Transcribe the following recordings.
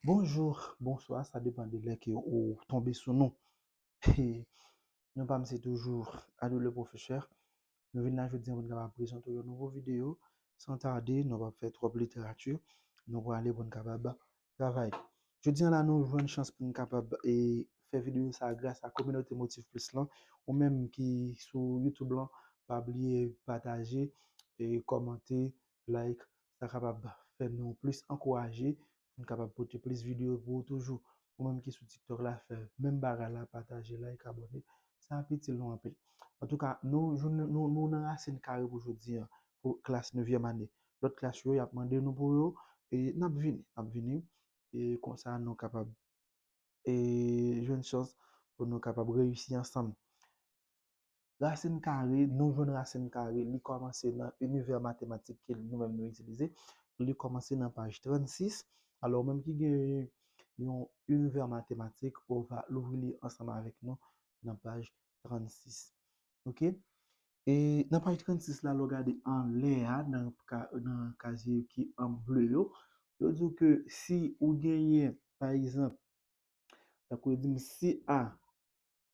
Bonjour, bonsoir sa depan de lè ke ou tonbe sou nou. Non pa m se toujou Ado le Professeur. Nou vin la jodi an pou n kapab prezante w yon nouvo videyo. San tarde, nou pa p fè twòp literati, nou prale pou n kapab travay. Jodi an la nou jwenn chans pou n kapab fè videyo sa gras a kominote Motif Plus lan. Ou menm ki sou YouTube lan, pa bliye pataje, kòmante, like sa kapab fè nou plis ankouraje pou n kapab pote plis videyo pou ou toujou ou menm ki sou tiktok la fè menm bagay la pataje like abòne sa ap itil nou anpil antouka nou jounen nou nou nan rasin kare pou jodi an pou klas nevyèm ane lòt klas yo yap mande nou pou yo e nap vini nap vini e konsa nou kapab e jwenn chans pou nou kapab reyisi ansanm. Rasin kare, nou jwenn rasin kare li kòmanse nan inivè matematik ke nou menm nou itilize, li kòmanse nan paj 36, alò ou menm ki gen yon inivè matematik ou va louvri li ansanm avèk nou nan paj 36 ok. E nan paj 36 la lè w gade anlè a nan kazye ki an ble yo, yo di w ke si ou genyen pa egzanp, tankou yo di m si a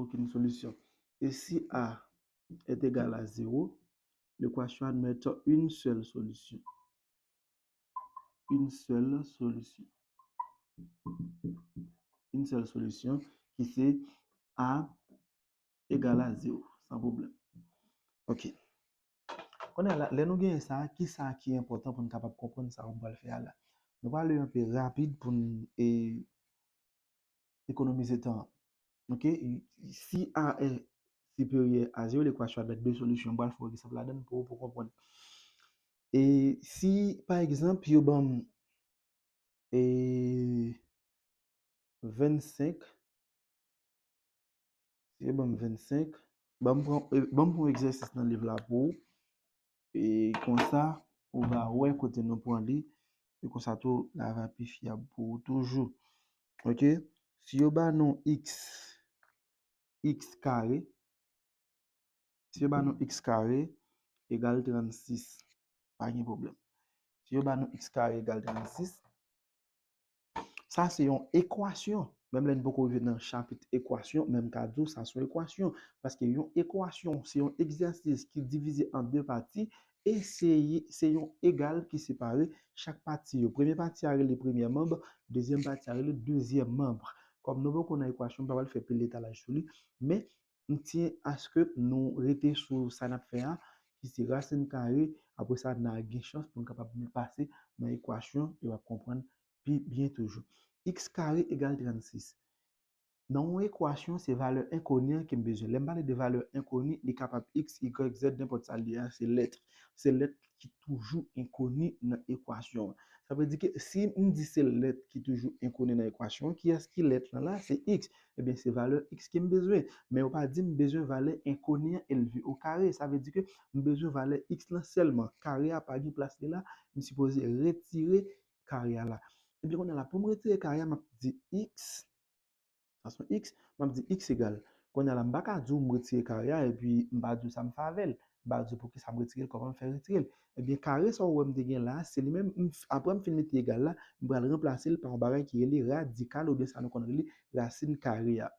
okenn solisyon. E si a est égal à zéro, l'équation admet une seule solution. Une seule solution. Une seule solution ki se a égal à zéro. San problem. Ok. Konnen ala, lè nou genyen sa, ki sa ki enpotan pou nou kapab konprann sa mwen pral fè ala? Nou pral ale anpe rapid pou nou e... ekonomize tan an. Ok, si a è siperyè a zewo, lekwa chwa dèt de solisyon m pral fè w egzanp ladan l pou ou pou w konprann. E si pa egzanp yo ban m e 25, si yo ban m 25, ban m pran, ban m pran egzèsis nan liv la pou ou. E konsa, ou va wè kote nou pran li, e konsa tou, la va pi fyab pou ou toujou. Ok, si yo ba nou x, x kare, si yo ba nou x kare egal 36, pa gen pwoblèm. Si yo ba nou x kare egal 36, Sa se yon ekwasyon. Menm lè n poko rive nan chapit ekwasyon, men m ka di w sa se yon ekwasyon. Paske yon ekwasyon se yon egzèsis ki divize an de pati e se se yon egal ki separe chak pati yo. Premye pati a rele premyè manb, dezyèm pati a rele dezyèm manb. Kòm nou poko nan ekwasyon, m pa pral fè pil etalaj sou li. Men, M tiyen aske nou rete sou sa n ap fè a, ki se rasin kare, apre sa n a gen chans pou n kapab vin pase nan ekwasyon e w ap konprann pi byen toujou. Iks kare egal 36. Nan yon ekwasyon, se valè enkoni an ke m bezwen. Lè m pale de valè enkoni, li kapab iks, igrèk, zèd, nenpòt sa l ye a, se lèt. Se lèt ki toujou enkoni nan ekwasyon an. Sa vle di ke si m di se lèt ki toujou enkoni nan ekwasyon an, ki yès ki lèt lan la? Se x. Ebyen, se valè x ke m bezwen. Men yo pa di m bezwen valè enkoni an elve o kare. Sa vle di ke m bezwen valè x lan sèlman. Kare a pa gen plas li la, m sipoze retire kare a la. Ebyen, kounye a la, pou m retire kare a, m ap di x. Sa son x, m ap di x egal. Kounye a la m pa ka di w m retire kare a epi m pa di w sa m fè avè l. M pa di w poukisa m retire l, kòman m fè retire l. Ebyen kare sa ou wè m te gen la a, se li menm m, apre m fin mete egal la, m pral ranplase l pa yon bagay ki rele radikal oubyen sa nou konn rele rasin kare a.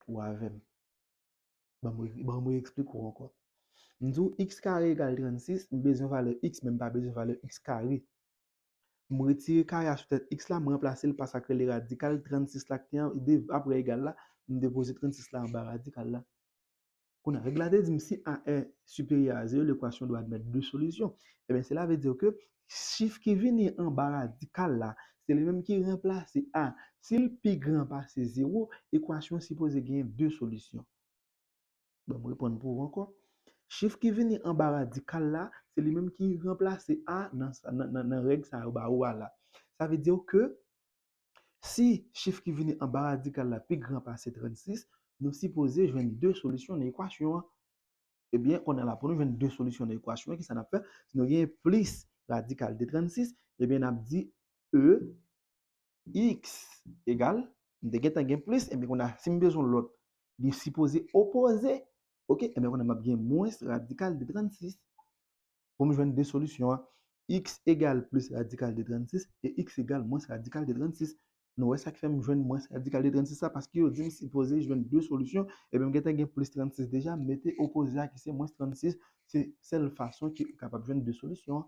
Ou avè m? Ban m, ban m re-eksplike w ankò. M di w x kare egal 36, m bezwen valè x men m pa bezwen valè x kare. M retire kare a sou tèt x la, m ranplase l pa sa k rele radikal 36 la k te an, de apre egal la, m depoze 36 la anba radikal la. Kounye a, règ la te di m si a è siperyè a zewo, lekwasyon dwe admèt de solisyon. Ebyen sela ve di ke chif ki vini anba radikal la, se li menm ki ranplase a. Si l pi gran pase zewo, ekwasyon an sipoze genyen de solisyon. Ban m reponn pou ou ankò. Chif ki vini anba radikal la, se li menm ki ranplase a nan règ sa yo ba ou a la. Sa vle di ke si chif ki vini anba radikal la pi gran pase 36, nou sipoze jwenn 2 solisyon nan ekwasyon an. Ebyen, kounye a la pou nou jwenn 2 solisyon nan ekwasyon an, ki sa n ap fè? Si nou gen plis radikal de 36, ebyen n ap di E X egal, m te gentan gen plis, ebyen kounye a si m bezwen lòt li sipoze opoze, ok, ebyen kounye a m ap gen mwens radikal de 36 pou m jwenn de solisyon an, X egal plis radikal de 36 e X egal mwens radikal de 36. Nou wè sa k fè m jwenn mwens radikal de 36 la, paske yo di m sipoze jwenn de solisyon, ebyen m gentan gen plis 36 deja, m mete opoze a ki se mwens 36, se sèl fason ki kapab jwenn de solisyon an.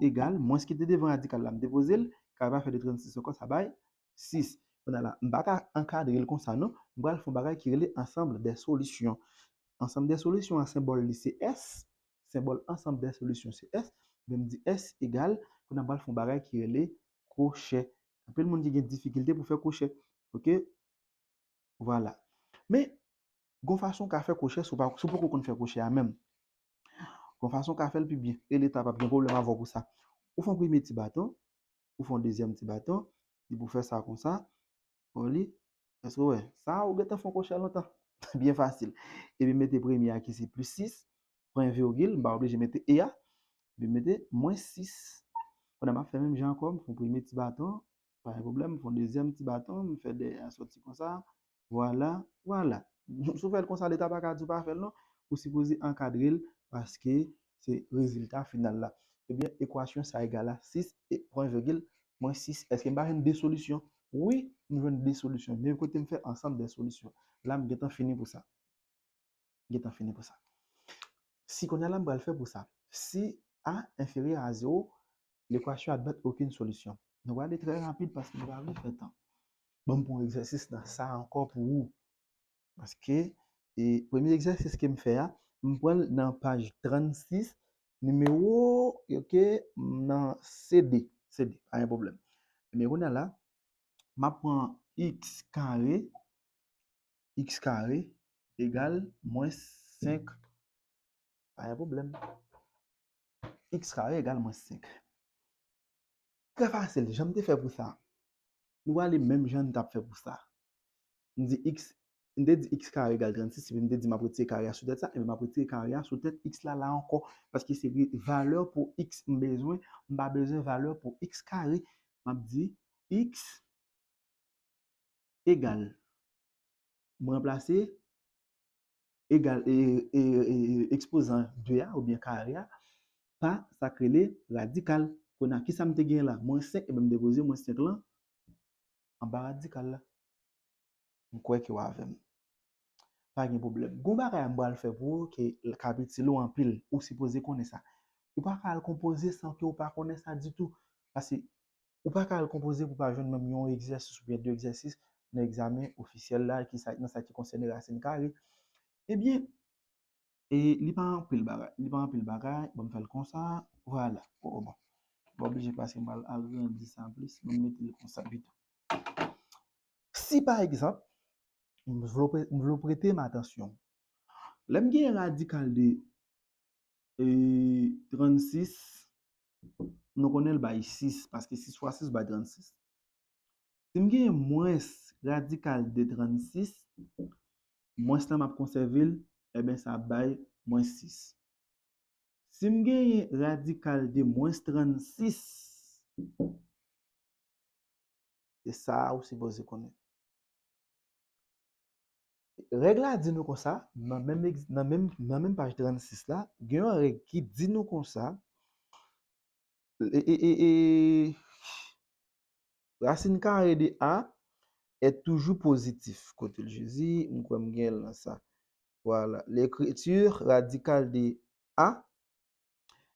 egal mwens ki te devan radikal la m depoze l, kare pa fè de 36 ankò sa bay 6. Kounye a la, m pa ka ankadre l konsa non, m pral fè yon bagay ki rele ansanb dè solisyon. Ansanb dè solisyon an senbòl li se S, senbòl ansanb dè solisyon se S, ebyen m di S egal, kounye a m pral fè yon bagay ki rele kwochè. Anpil moun ki gen difikilte pou fè kwochè. Ok, vwala. Men, Gon fason w ka fè kwochè si w poko konn fè kwochè a menm. Gon fason w ka fè l pi byen e leta pap gen pwoblèm avè w pou sa. Ou fè yon premye ti baton, ou fè yon dezyèm ti baton, depi w fè sa kon sa, bon li, èske w wè? Sa a ou gentan fè yon kwochè lontan. Byen fasil. Epi mete premye a ki se plis 6, pran yon virgil, m pa oblije mete e a, epi m mete mwens 6. Kounye a m ap fè menm jan ankò, m fè yon premye ti baton, pa gen pwoblèm, m fè yon dezyèm ti baton, m fè dèyè a sòti konsa, vwala, vwala. Si w fè l konsa Leta pa ka di w pa fè l non, ou sipoze ankadre l paske se rezilta final la. Ebyen ekwasyon sa egal a 6 e pwen vègil mwens 6. Èske m pa jwenn 2 solisyon? Wi, m jwenn 2 solisyon. Men kote m fè ansanm dè solisyon. La m gentan fini pou sa. gentan fini pou sa. Si kounye a la m pral fè pou sa. Si a enferyè a zewo, lekwasyon admèt okenn solisyon. Nou va ale trè rapid paske nou pa vle fè tan. Ban m pran yon egzèsis nan sa a ankò pou ou. Paske, e premye egzèsis ke m fè a, m pran l nan paj 36, nimewo, ok, nan CD. CD, pa gen pwoblèm. Ebyen kounye a la, m ap pran x kare x kare egal mwens 5, pa gen pwoblèm, x kare egal mwens 5. Trè fasil, jan m te fè pou sa, nou prale menm jan nou t ap fè pou sa. M di x, m te di x kare egal 36, epi m te di m ap retire kare a sou tèt sa, epi m ap retire kare a sou tèt x la la ankò, paske se valè pou x m bezwen, m pa bezwen valè pou x kare. M ap di x egal m ranplase egal ekspozan 2 a oubyen kare a pa sa k rele radikal. Kounye a, ki sa m te genyen la? Mwens 5, m depoze mwens 5 lan anba radikal la. M kwè ke w avè m. Pa gen pwoblèm. Gon bagay m pral fè pou ou ke l kab itil ou anpil. Ou sipoze konnen sa. Ou pa ka al konpoze san ke ou pa konnen sa ditou. Pase, ou pa ka al konpoze pou w pa jwenn menm yon egzèsis oubyen 2 egzèsis nan egzamen ofisyèl la ki sa, nan sa ki konsène rasin kare. Ebyen, e li pa anpil bagay li pa anpil bagay bon m fè l konsa vwala o bon m pa oblije pase m pral agrandi sa plis m mete l konsa pito si pa egzanp m vle w m vle w prete m atansyon lè m gen radikal de ee 36 nou konnen l bay 6 paske 6 fwa 6 bay 36 Si m gen mwens radikal de 36, mwens lan m ap konsève l, eben sa ap bay mwens 6. Si m genyen radikal de mwens 36, se sa a ou sipoze konnen. Règ la di nou konsa, nan menm paj 36 la, gen yon règ ki di nou konsa, e, e, e, e, Rasin kare de a è toujou pozitif. Kote l Jezi? M kwè m gen l nan sa. Vwala. Lekriti radikal de a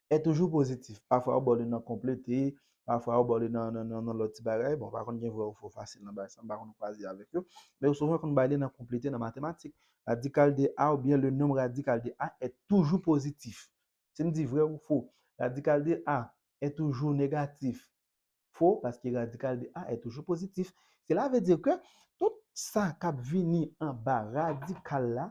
è toujou pozitif. Pafwa yo ba w li nan konplete, pafwa yo ba w li nan lòt ti bagay. Bon, pa konn gen vrè ou fo fasil nan bagay sa, m pa konn kwaze avèk yo. Men yo souvan konn bay li nan konplete, nan matematik. Radikal de a oubyen le nonb radikal de a è toujou pozitif. Si m di vrè ou fo, radikal de a è toujou negatif. fo paske radikal de a è toujou pozitif. Sela ve di ke tout sa k ap vini anba radikal la,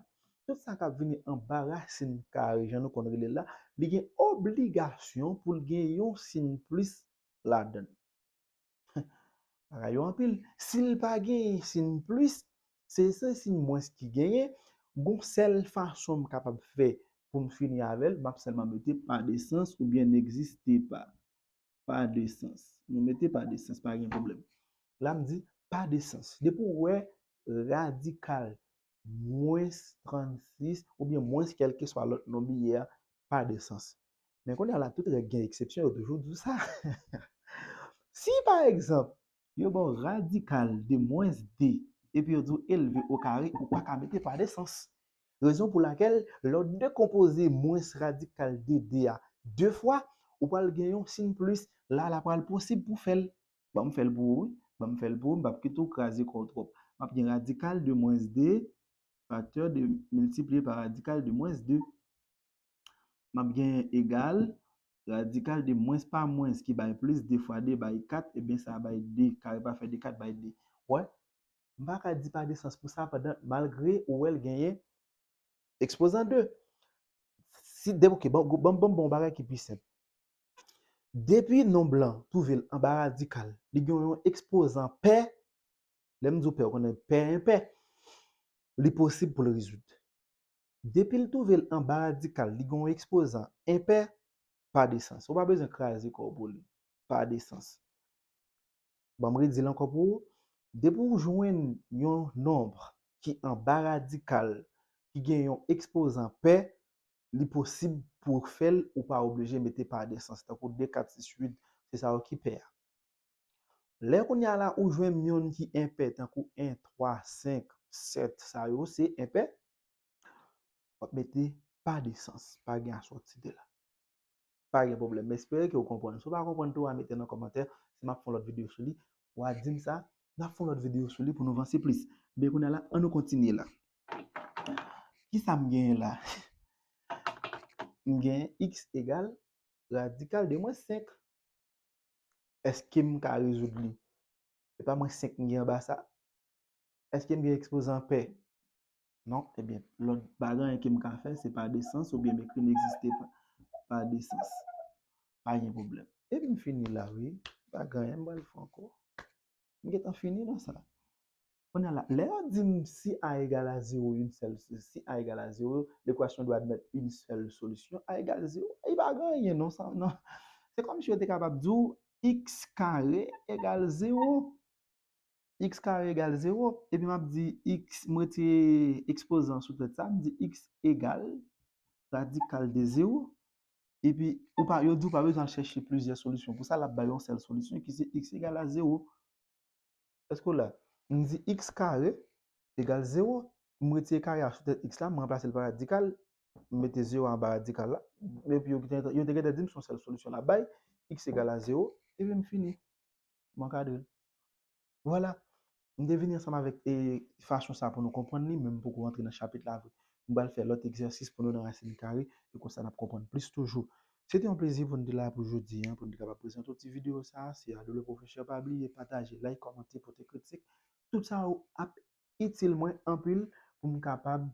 tout sa k ap vini anba rasin kare jan nou konn rele l la, li gen obligasyon pou l gen yon sin plis ladan l. Bagay yo anpil. Si l pa gen sin plis, se se sin mwens ki genyen, gon sèl fason m kapab fè pou m fini avè l, m ap sèlman mete pa de sans oubyen n'existe pas. pa de sans. Nou mete pa de sans, pa gen pwoblèm. La m di, pa de sans. Depi w wè radikal mwens 36 oubyen mwens kèlkeswa lòt non biyè a, pa de sans. Men kounye a la, tout règ gen eksepsyon, yo toujou di w sa. Si, pa egzanp, yo ba w radikal de mwens 2 epi yo di w elve okare, ou pa ka mete pa de sans. Rezon pou lakèl lè w dekonpoze mwens radikal de 2 a 2 fwa, ou pral gen yon sin plis, la la pral posib pou fè l. Ban m fè l pou ou wi, ban m fè l pou ou, m p ap kite w kraze kò w twòp. M ap gen radikal de mwens 2 faktè 2 miltipliye pa radikal de mwens 2. M ap gen egal radikal de mwens pa mwens ki bay plis, 2 fwa 2 bay 4, ebyen sa bay 2, kare pafè de 4 bay 2. Ou wè? M pa ka di pa gen sans pou sa pandan malgre ou wè l genyen ekspozan 2. Si de ok bon banm banm ba w yon bagay ki pi senp. Depi non blan twouve l anba radikal li gen yon ekspozan pè, lè m di w pè ou konnen pè enpè, li posib pou l rezoud. Depi l twouve l anba radikal li gen yon ekspozan enpè, pa de sans. Ou pa bezwen kraze kò w pou li. Pa de sans. Banm redi l ankò pou ou, depi w jwenn yon nonb ki anba radikal ki gen yon ekspozan pè, li posib pou w fè l, ou pa oblije mete pa desans, tankou 2, 4, 6, 8, se sa yo ki pè a. Lè kounye a la ou jwenn yon ki enpè tankou 1, 3, 5, 7, sa yo se enpè, w ap mete pa desans, pa gen asòti 2 la. pa gen pwoblèm m espere ke ou konprann si ou pa konprann tou wa mete nan kòmantè si map fè yon lòt videyo sou li wa dim sa nap fè yon lòt videyo sou li pou nou vanse plis men kounye a la an nou kontinye la kisa m genyen la m genyen x egal radikal de mwens 5 èske m ka rezoud li se pa mwens 5 m gen anba sa èske m gen ekspozan pè Non, ebyen, lòt pa gen anyen ke m ka fè, se pa de sans, oubyen m ekri n'existe pas, pa de sans. Pa gen pwoblèm. Epi m fini la wi. Pa gen anyen m pral fè ankò. M gentan fini nan sa. Kounye a la, lè yo di m si A egal a zewo, yn sèl, si A egal a zewo, lekwasyon dwe admèt yn sèl solisyon, A egal zewo. Epi pa gen anyen non sa nan. Se kòmsi yo te kapab di w x kare egal zewo. x kare egal 0, epi m ap di x, m retire ekspozan an sou tèt sa, m di x egal radikal de 0, epi ou pa, yo di ou pa bezwen al chèche plizyè solisyon pou sa, l ap bay yon sèl solisyon ki se x egal a 0. Èske ou la? M di x kare egal 0, m retire kare a sou tèt x la, m ranplase l pa radikal, m mete 0 a anba radikal la, epi yo te gentan di m se yon sèl solisyon l ap bay, x egal a 0, epi m fini. M ankadre l. Vwala. M te vini ansanm avèk e fason sa pou nou konprann li, men m poko antre nan chapit la vre. M pral fè lòt egzèsis pou nou nan rasin kare, e konsa n ap konprann plis toujou. Se te yon plezi pou n te la pou jodi an, pou n te kapab prezante w ti videyo sa a. Se Adoo Le Professeur Pa bliye pataje, like, kòmante, pote kritik. Tout sa yo ap itil mwen anpil pou m kapab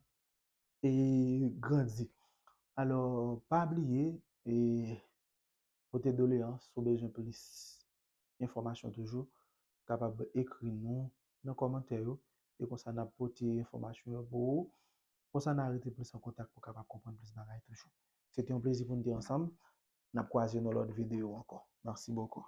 e grandi. Alò, pa bliye e. Pote doleyans ou bezwen plis enfòmasyon toujou ou kapab ekri nou nan kòmantè yo e konsa nap pote enfòmasyon yo pou ou konsa na rete plis an kontak pou kapab konprann plis bagay toujou se te yon plezi poun te ansanm nap kwaze nan lòt videyo ankò merci beaucoup.